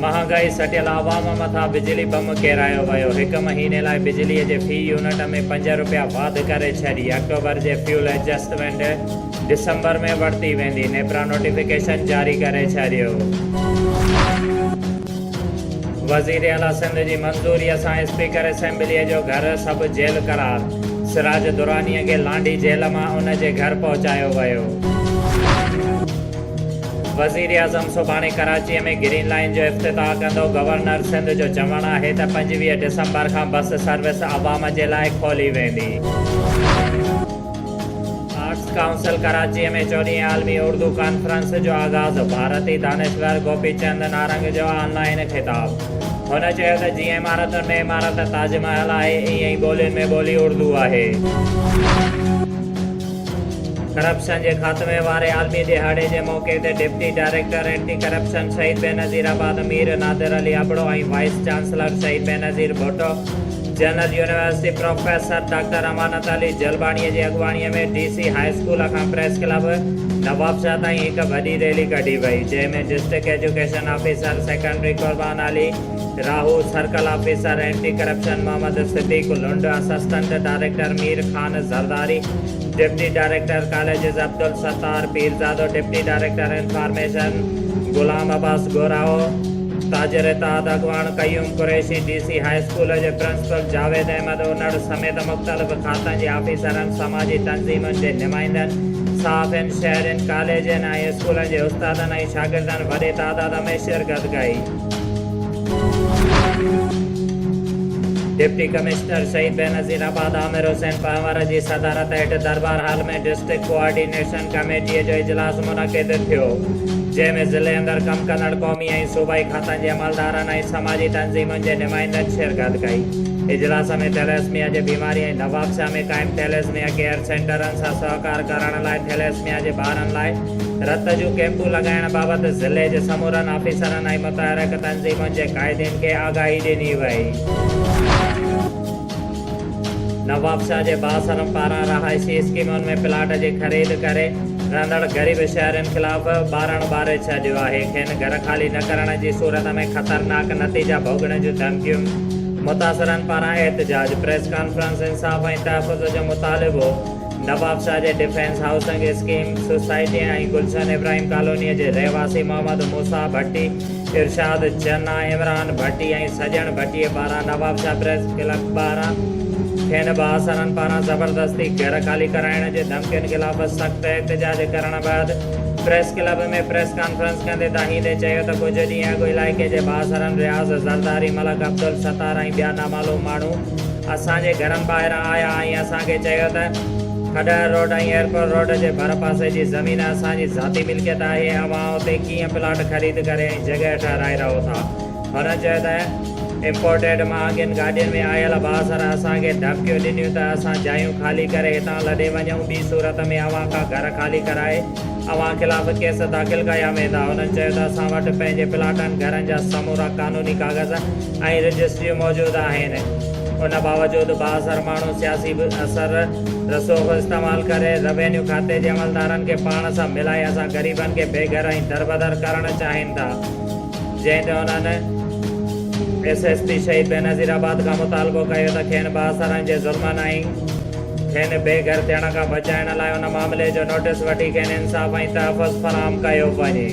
مهانگائي سٽيل عوام مٿان بجلي بم ڪيرايو ويو، هڪ مهيني لاء بجلي جي في يونٽ ۾ پنج رپيا واڌ ڪري ڇڏي، آڪٽوبر جي فيول ايڊجسٽمينٽ ڊسمبر ۾ ورتي ويندي، نيپرا نوٽيفڪيشن جاري ڪري ڇڏيو. وزير اعليٰ سنڌ جي منظوريء سان اسپيڪر اسيمبليء جو گهر سب جيل قرار، سراج درانيء کي لانڍي جيل مان ان جي گهر پهچايو ويو. وزيراعظم سڀاڻي ڪراچي ۾ گرين لائين جو افتتاح ڪندو، گورنر سنڌ جو چوڻ آهي ته پنجويهه ڊسمبر کان بس سروس عوام جي لاء کولي ويندي. آرٽس ڪائونسل ڪراچي ۾ چوڏهين عالمي اردو ڪانفرنس جو آغاز، ڀارتي دانشور گوپي چند نارنگ جو آن لائين خطاب، هن چيو ته جيئن عمارتن ۾ عمارت تاج محل آهي، ايئن ئي ٻولين ۾ ٻولي اردو آهي. ڪرپشن جي خاتمي واري عالمي ڏهاڙي جي موقعي تي deputy director anti corruption Shaheed Benazirabad Mir Nadir Ali Abro ۽ vice chancellor Shaheed Benazir Bhutto, general university professor doctor Amanat Ali Jalbani جي اڳواڻي ۾ ڊي سي هاء اسڪول کان پريس ڪلب نوابشاهه تائين هڪ وڏي ريلي ڪڍي وئي، جنهن ۾ district education officer secondary Qurban Ali, Rahu circle officer anti corruption Muhammad Siddique Lund, assistant director Mir Khan Zardari, deputy director colleges Abdul Sattar Pirzado, deputy director information Ghulam Abbas Gorahu, تاجر اتحاد اڳواڻ Qayyum Qureshi, D C high school جي پرنسپل جاويد احمد انڙ سميت مختلف کاتن جي آفيسرن، سماجي تنظيمن جي نمائندن، صحافين، شهرين، ڪاليجن ۽ اسڪولن جي استادن ۽ شاگردن وڏي تعداد ۾ شرڪت ڪئي. ڊپٽي ڪمشنر شهيد بينظير آباد عامر حسين پنهور جي صدارت هيٺ دربار هال ۾ ڊسٽرڪٽ ڪوآرڊينيشن ڪميٽيء جو اجلاس منعقد ٿيو، جنهن ۾ ضلعي اندر ڪم ڪندڙ قومي ۽ صوبائي کاتن جي عملدارن ۽ سماجي تنظيمن جي نمائندن شرڪت ڪئي. اجلاس ۾ ٿيليسميا جي بيماري ۽ نوابشاهه ۾ قائم ٿيليسميا ڪيئر سينٽرن سان سهڪار ڪرڻ لاء ٿيليسميا جي ٻارن لاء رت جون ڪئمپون لڳائڻ بابت ضلعي جي سمورن آفيسرن ۽ متحرڪ تنظيمن جي قائدين کي آگاهي ڏني وئي. نوابشاهه جي بااثرن پاران رهائشي اسڪيمن ۾ پلاٽ جي خريد ڪري رهندڙ غريب شهرين خلاف ٻارڻ ٻاري ڇڏيو آهي، کين گهر خالي نه ڪرڻ جي صورت ۾ خطرناڪ نتيجا ڀوڳڻ جون ڌمڪيون، متاثرن پاران احتجاج، پريس ڪانفرنس، انصاف ۽ تحفظ جو مطالبو. نوابشاهه جي ڊفينس هائوسنگ اسڪيم سوسائٽيء ۽ گلشن ابراهيم ڪالونيء جي رهواسي محمد موسيٰ ڀٽي، ارشاد چنا، عمران ڀٽي ۽ سڄڻ ڀٽيء پاران نوابشاهه پريس ڪلب ٻاهران کين بااثرن پاران زبردستي گهر خالي ڪرائڻ جي ڌمڪين خلاف سخت احتجاج ڪرڻ بعد پريس ڪلب ۾ پريس ڪانفرنس ڪندي دانهيندي چيو ته ڪجهه ڏينهن اڳ علائقي جي بااثرن رياض زرداري، ملڪ عبدالستار ۽ ٻيا نامعلوم ماڻهو اسان جي گھرن ٻاهران آيا ۽ اسان کي چيو ته کڏهر روڊ ۽ ايئرپورٽ روڊ جي ڀرپاسي جي زمين اسان جي ذاتي ملڪيت آهي ۽ اوهان اتي ڪيئن پلاٽ خريد ڪري ۽ جڳهه ٺهرائي رهو ٿا. هن چيو ته امپورٽيڊ مهانگين گاڏين ۾ آيل بااثر اسان کي ڌمڪيون ڏنيون ته اسان جايون خالي ڪري هتان لڏي وڃون ٻي صورت ۾ اوهان کان گھر خالي ڪرائي اوهان خلاف ڪيس داخل ڪيا ويندا. هنن چيو ته اسان وٽ پنهنجي پلاٽن گھرن جا سمورا قانوني ڪاغذ ۽ رجسٽريون موجود آهن ان باوجود بااثر ماڻهو سياسي به اثر رسوخ استعمال ڪري روينيو کاتي جي عملدارن کي پاڻ سان ملائي اسان غريبن کي بي گهر ۽ دربدر ڪرڻ چاهين ٿا جنهن تي انهن S S P Shaheed Benazir آباد کان مطالبو ڪيو ته کين بااثرن جي ظلمن ۽ کين بي گهر ٿيڻ کان بچائڻ لاء ان معاملي جو نوٽس وٺي کين انصاف ۽ تحفظ فراهم ڪيو وڃي.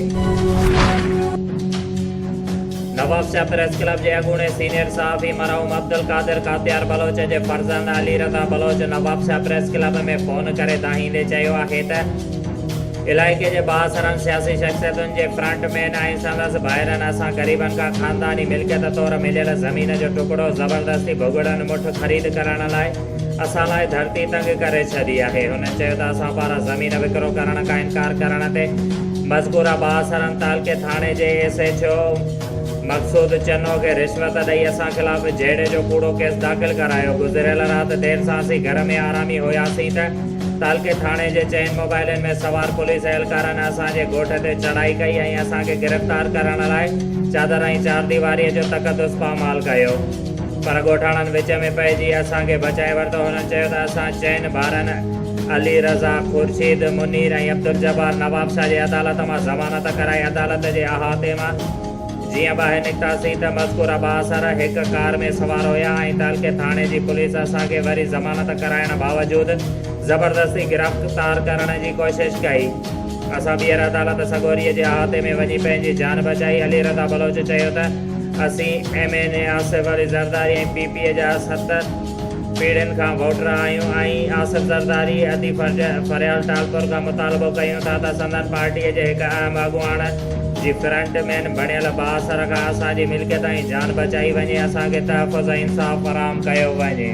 نواب شاهه پريس ڪلب جي اڳوڻي سينيئر صحافي مرحوم عبدالقادر ڪاتيار بلوچ جي فرزند Ali Raza Baloch Nawabshah press club ۾ phone ڪري دانهيندي چيو آهي ته علائقي جي بااثرن سياسي شخصيتن جي فرنٽ مين ۽ سندس ڀائرن اسان غريبن کان خانداني ملڪيت طور مليل زمين جو ٽڪڙو زبردستي ڀڳڙن مٺ خريد ڪرڻ لاء اسان لاء ڌرتي تنگ ڪري ڇڏي آهي. هنن چيو ته اسان پاران زمين وڪرو ڪرڻ کان انڪار ڪرڻ تي مذڪوره بااثرن تعلقي ٿاڻي جي S H O Maqsood Channo کي رشوت ڏئي اسان خلاف جهيڙي جو ڪوڙو ڪيس داخل ڪرايو. گذريل رات دير سان اسين گهر ۾ آرامي هياسين ته تعلقي ٿاڻي جي چئن موبائلن ۾ سوار پوليس اهلڪارن اسان جي ڳوٺ تي چڙهائي ڪئي ۽ اسان کي گرفتار ڪرڻ لاء چادر ۽ چارديواريء جو تقدس پامال ڪيو. پر ڳوٺاڻن وچ ۾ پئجي اسان کي بچائي ورتو. هنن چيو ته اسان چئن ڀائرن علي رضا، خورشيد، منير ۽ عبدالجبار نواب شاهه جي عدالت مان ضمانت ڪرائي عدالت جي احاطي مان جيئن ٻاهر نڪتاسين ته مذڪوره بااثر هڪ ڪار ۾ سوار هيا ۽ تعلقي ٿاڻي جي پوليس اسان کي وري ضمانت ڪرائڻ باوجود زبردستي گرفتار ڪرڻ جي ڪوشش ڪئي. اسان ٻيهر عدالت سڳوريء جي احاطي ۾ وڃي پنهنجي جان بچائي. علي رضا بلوچ چيو ته. اسين M N A Asif Ali Zardari ۽ P P A جا ست پيڙهين کان ووٽر آهيون ۽ آصف زرداري ادي فريال ٽالپر کان مطالبو ڪيون ٿا ته سندن پارٽي جي هڪ اهم اڳواڻ جي فرنٽ مين بڻيل بااثر کان اسان جي ملڪيت ۽ جان بچائي وڃي اسان کي تحفظ ۽ انصاف فراهم ڪيو وڃي.